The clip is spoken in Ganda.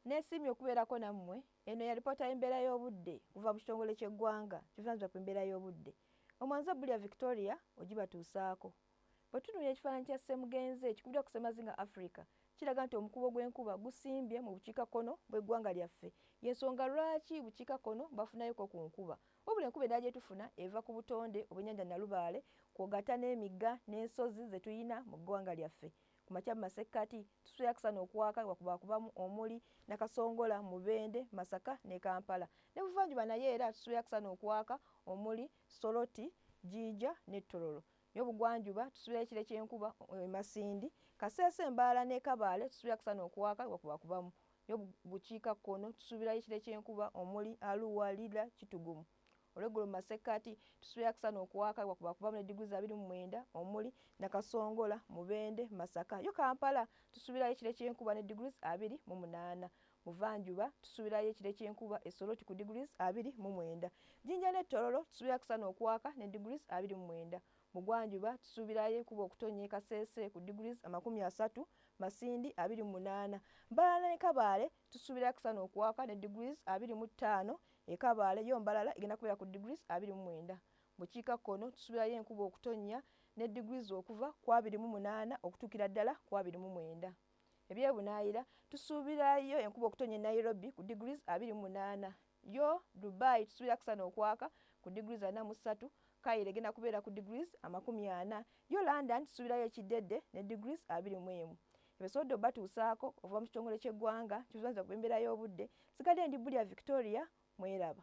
Nesiimye okubeerako nammwe. Eno ya lipoota y'embeera y'obudde kuva mu kitongole ky'eggwanga kivunaanyizibwa ku mbeera y'obudde. Omwanza Bulya Victoria ogibatuusaako. Bwe tutunuulira ekifaananyi kya Ssemugenzi ekikubiddwa ku Ssemazinga Africa kiraga nti omukuubo gw'enkuba gusimbye mu bukiikakkono bw'eggwanga lyaffe. Y'ensonga lwaki bukiikakkono bafunayoko ku nkuba. Wabula enkuba endala gye tufuna eva ku butonde obw'ennyanja Nalubaale kwogatta n'emigga n'ensozi ze tulina mu ggwanga lyaffe. ku makya mu masekkati tusuya kusana okwaka wakubakubamu omuli nakasongola mubende masaka ne kampala ne buvanjuba naye era tusuya kusana okwaka omuli soloti jija ne tololo nyo bugwanjuba tusuya ekire kyenkuba emasindi eh, kasese embala ne kabale tusuya kusana okwaka wakubakubamu nyo bukiika kono tusubira ekire kyenkuba omuli aluwa lila kitugumu olweggulo mu masekkati tusuubira kusana okuwaaka wakuba kubamu ne diguli za biri mu mwenda omuli nakasongola mubende masaka yo kampala tusuubirayo ekire kyenkuba ne diguli abiri mu munaana muvanjuba tusuubirayo ekire kyenkuba esoloti ku diguli abiri mu mwenda jinja ne tororo tusuubira kusana okuwaaka ne diguli abiri mu mwenda mugwanjuba tusuubirayo ekuba okutonya ekasese ku diguli amakumi asatu masindi abiri mu munaana mbalala ne kabaale tusuubira kusana okuwaaka ne diguli abiri mu ttaano E Kabale yo Mbalala egenda kubeera ku degrees abiri mu mwenda. Bukiika kkono tusubirayo enkuba okutonnya ne degrees okuva ku abiri mu munaana okutuukira ddala ku abiri mu mwenda. Ebyebunaayira tusuubirayo enkuba okutonnya e Nairobi ku degrees abiri mu munaana. Yo Dubai tusubira akasana okwaka ku degrees ana mu ssatu. Cairo egenda kubeera ku degrees amakumi ana. Yo London tusubirayo ekiddedde ne degrees abiri mu emu. ebisobodde obatuusaako okuva mu kitongole ky'eggwanga kivunanyizibwa ku by'embeera y'obudde sigadde ndi Bulya Victoria mweraba.